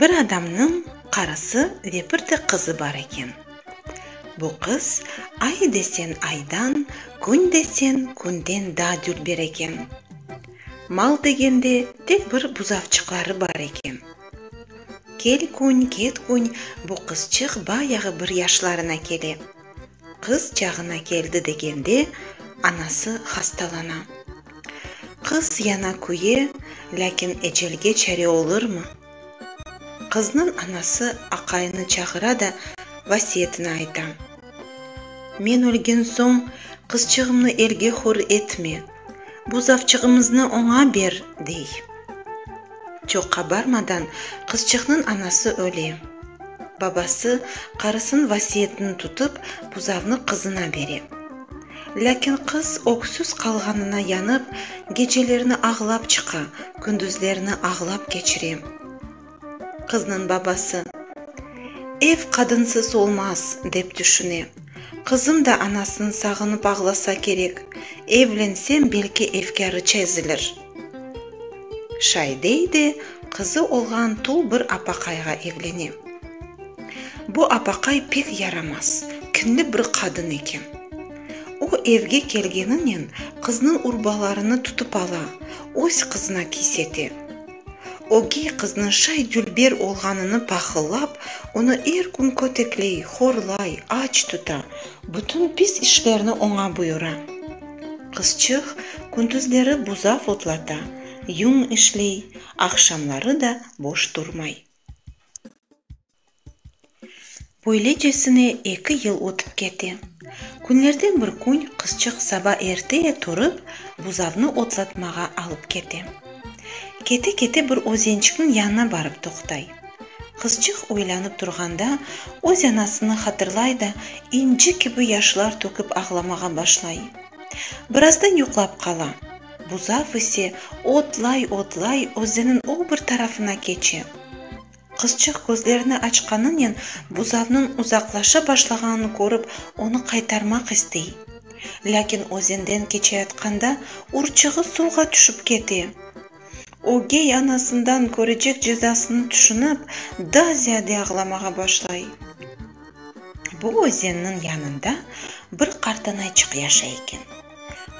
Bir adamnıñ qarısı ve bir de qızı bar eken. Bu qız ay desen aydan, kün desen künden daa dülber eken. Mal degende tek bir buzavçıqları bar eken. Kel kün, ket kün bu qızçıq bayağı bir yaşlarına kele. Qız çağına keldi degende, anası hastalana. Qız yana küye, lâkin ecelge çare olurmı? Qıznıñ anası aqayını çağıra da vasiyetini ayta, Men ölgen soñ, qızçığımnı elge hür etme! Bu zavçığımıznı oña ber, dey. Çoq qabarmadan qızçıqnıñ anası öle. Babası qarısınıñ vasiyetini tutıp, buzavnı qızına bere. Lâkin qız öksüz qalğanına yanıp, gecelerni ağlap çıqa, gündüzlerni ağlap keçire. Qıznıñ babası, Ev qadınsız olmaz, dep tüşüne. Qızım da anasın sağınıp ağlasa kerek, evlensem, belki efkârı çezilir. Şaidey de qızı olğan tul bir apaqayğa evlene. Bu apaqay pek yaramaz, kinli bir qadın eken. O, evge kelgeninen, qıznıñ urbalarını tutıp ala, öz qızına kiysete. Ögey qıznıñ şay dülber olğanını pahıllap, onı er kün kötekley, horlay, aç tuta, bütün pis işlerni oña buyura. Qızçıq kündüzleri buzav otlata, yuñ işley, aqşamları da boş turmay. Böylecesine eki yıl ötip kete. Künlerden bir kün qızçıq saba erteye turıp, buzavnı otlatmağa alıp kete. Kete-kete bir özençikniñ yanına barıp toqtay. Qızçıq oylanıp turğanda, öz anasını hatırlay da, inci kibi yaşlar tökip ağlamağa başlay. Birazdan yuqlap qala. Buzav ise otlay-otlay özeniñ o bir tarafına keçe. Qızçıq közlerini açqanınen buzavnıñ uzaqlaşa başlağanını körip, onı qaytarmaq istey. Lâkin özenden keçeyatqanda urçuğı suvğa tüşip kete. Ögey anasından körecek cezasını tüşünip, daa ziyade ağlamağa başlay. Bu özenniñ yanında bir qartanayçıq yaşay eken.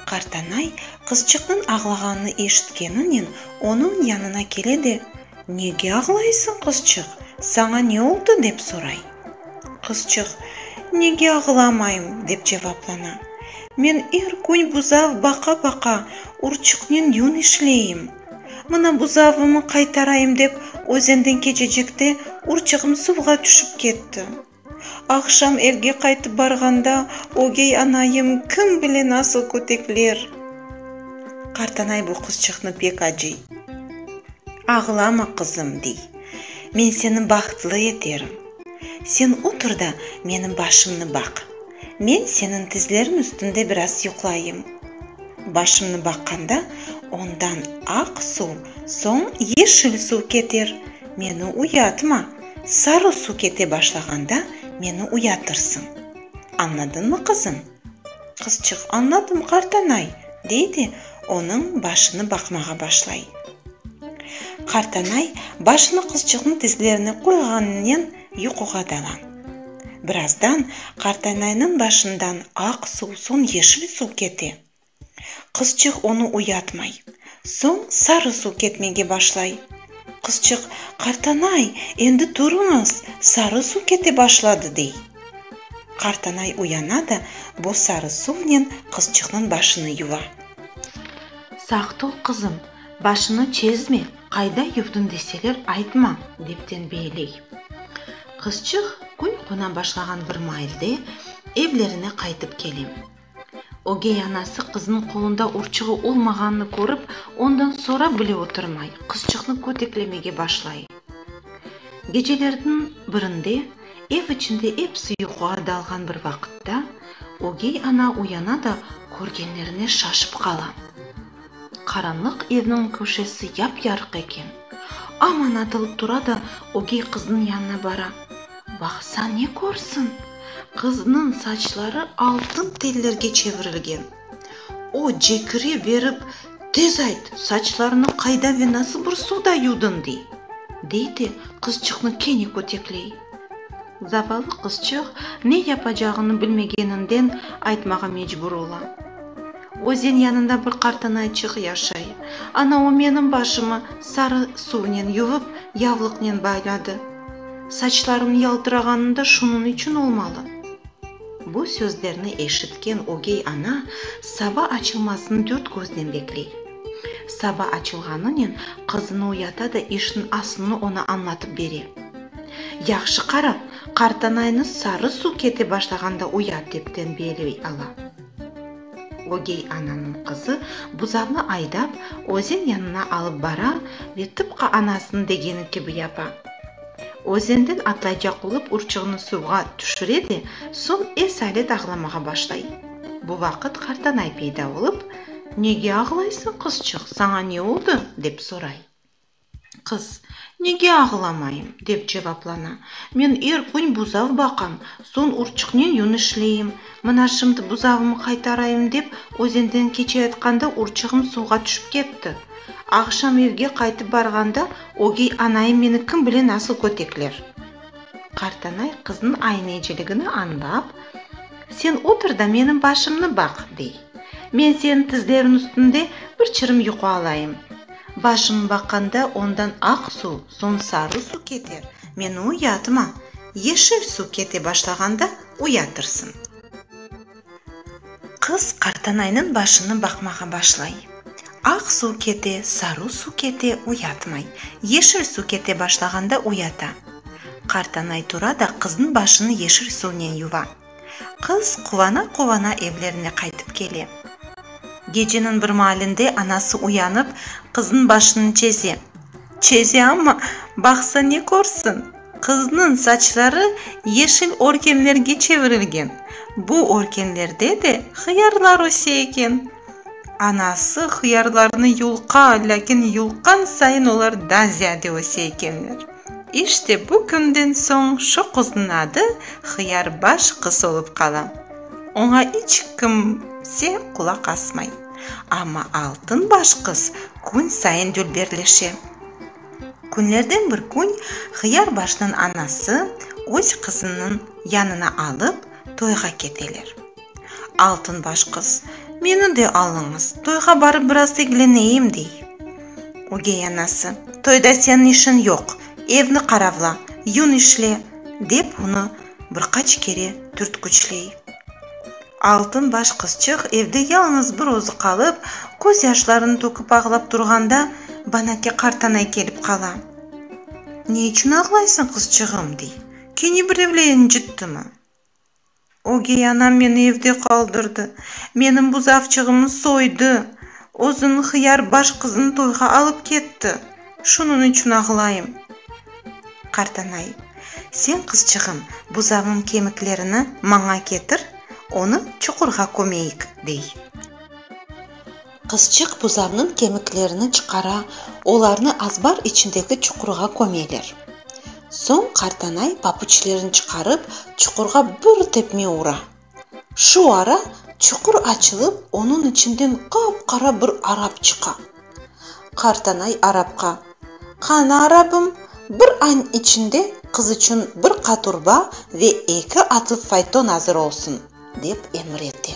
Qartanay, qızçıqnıñ ağlağanını eşitkeninen, onıñ yanına kele de, Nege ağlaysıñ, qızçıq? Saña ne oldı? dep soray. Qızçıq, Nege ağlamayım? dep cevaplana. Men er kün buzav baqa-baqa, urçıqnen yün işleyim. Mına buzavımı qaytarayım dep, özenden keçecekte urçığım suvğa tüşip ketti. Aqşam evge qaytıp barğanda, ögey anayım kim bile nasıl kötekler! Qartanay bu qızçıqnı pek acıy. Ağlama, qızım, dey, men seni bahtlı eterim. Sen otur da, menim başımnı baq. Men seniñ tizleriñ üstünde biraz yuqlayım. Başımnı baqqanda, ondan aq suv, soñ yeşil suv keter. Meni uyatma. Sarı suv kete başlağanda meni uyatırsıñ. Añladıñmı, qızım? Qızçıq, Añladım, qartanay, dey de, onıñ başını baqmağa başlay. Qartanay başını qızçıqnıñ tizlerine qoyğanınen yuquğa dala. Birazdan qartanaynıñ başından aq suv, soñ yeşil suv kete. Qızçıq onı uyatmay. Soñ sarı suv ketmege başlay. Qızçıq, Qartanay, endi turıñız, sarı suv kete başladı, dey. Qartanay uyana da bu sarı suvnen qızçıqnıñ başını yuva. Saq tur, qızım, başını çezme, qayda yuvdın deseler, aytma, dep tenbeeley. Qızçıq kün qona başlağan bir mailde evlerine qaytıp kele. Ögey anası qızınıñ qolunda urçuğı olmağanını körip, ondan sorap bile oturmay, qızçıqnı köteklemege başlay. Gecelerniñ birinde, ev içinde episi yuquğa dalğan bir vaqıtta, ögey ana uyana da körgenlerine şaşıp qala. Qaranlıq evniñ köşesi yap-yarıq eken. Aman atılıp tura da ögey qıznıñ yanına bara. Baqsa ne körsin, qıznıñ saçları altın tellerge çevirilgen. O, cekire berip, Tez ayt, saçlarını qayda ve nasıl bir suvda yudın, dey. Dey de, qızçıqnı kene kötekley. Zavallı qızçıq ne yapacağını bilmegeninden aytmağa mecbur ola. Özen yanında bir qartanayçıq yaşay. Ana o menim başımı sarı suvnen yuvıp, yavlıqnen bayladı. Saçlarım yaltırağanı da şunıñ içün olmalı. Bu sözlerni eşitken ögey ana saba açılmasını dört köznen bekley. Saba açılğanınen qızını uyata da işniñ asılını oña añlatıp bere. Yahşı qara, qartanaynı sarı suv kete başlağanda uyat, dep tenbiyeley ala. Ögey ananıñ qızı buzavnı aydap, özen yanına alıp bara ve tıpqı anasınıñ degeni kibi yapa. Özenden atlaycaq olıp urçuğını suvğa tüşüre de, soñ esalet ağlamağa başlay. Bu vaqıt qartanay peyda olıp, Nege ağlaysıñ, qızçıq, saña ne oldı? dep soray. Qız, Nege ağlamayım? dep cevaplana, Men er kün buzav baqam, soñ urçuqnen yün işleyim, Mına şimdi buzavımı qaytarayım dep, özenden keçeyatqanda urçığım suvğa tüşip ketti. Aqşam evge qaytıp barğanda, ögey anayım meni kim bile nasıl kötekler. Qartanay qıznıñ ayneciligini añlap, Sen otur da menim başımnı baq, dey. Men seniñ tizleriñ üstünde bir çirim yuqu alayım. Başımı baqqanda ondan aq suv, soñ sarı suv keter. Meni uyatıma. Yeşil suv kete başlağanda, Uyatırsın. Qız qartanaynıñ başını baqmağa başlay. Aq suv kete, saru suv kete, uyatmay. Yeşil suv kete başlağanda uyata. Qartanay tura da qıznıñ başını yeşil suvnen yuva. Qız quvana-quvana evlerine qaytıp kele. Geceniñ bir maalinde anası uyanıp, qıznıñ başını çeze. Çeze amma, baqsa ne körsin? Qıznıñ saçları yeşil örkenlerge çevirilgen, bu örkenlerde de hıyarlar öse eken. Anası hıyarlarnı yulqa, lâkin yulqqan sayın olar da ziyade öse ekenler. İşte bu künden soñ şu qıznıñ adı Hıyarbaş qız olıp qala. Oña iç kimse qulaq asmay. Amma Altınbaş qız kün sayın dülberleşe. Künlerden bir kün Hıyarbaşnıñ anası öz qızınıñ yanına alıp toyğa keteler. Altınbaş qız, Meni de alıñız, toyğa barıp biraz egleneyim, dey. Ögey anası, Toyda seniñ işiñ yoq, evni qaravla, yün işle, dep onı bir qaç kere türtküçley. Altın baş qızçıq evde yalıñız bir özü qalıp, köz yaşlarını töküp ağlap turğanda, Banake qartanay kelip qala. Ne içün ağlaysıñ, qızçığım? dey. Kene birevle incittimi? Ögey anam meni evde qaldırdı, menim buzavçığımı soydı, özüniñ hıyar baş qızını toyğa alıp ketti. Şunıñ içün ağlayım. Qartanay. Sen, qızçığım, buzağıñ kemiklerini maña ketir, onı çuqurğa kömeyik, dey. Qızçıq buzağıñ kemiklerini çıqara, olarnı azbar içindeki çuqurğa kömeler. Soñ qartanay papuçlerini çıqarıp, çuqurğa bir tepme ura. Şu ara çuqur açılıp, onıñ içinden qap-qara bir arap çıqa. Qartanay arapqa, Qana, arapım, bir añ içinde qız içün bir qaturba ve eki atlı fayton azır olsun, dep emir ete.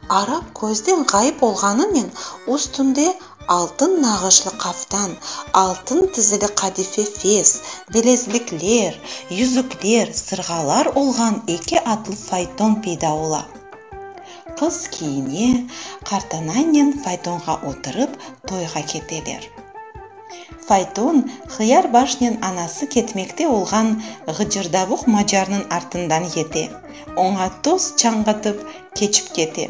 Arap közden ğayıp olğanınen üstünde Altın nağışlı qaftan, altın tizili qadife fes, bilezlikler, yüzükler, sırğalar olğan eki atlı fayton peyda ola. Qız kiyine, qartanannen faytonğa oturıp toyğa keteler. Fayton Hıyarbaşnen anası ketmekte olğan ğıcırdavuq macarnıñ artından yete, oña toz çañğatıp keçip kete.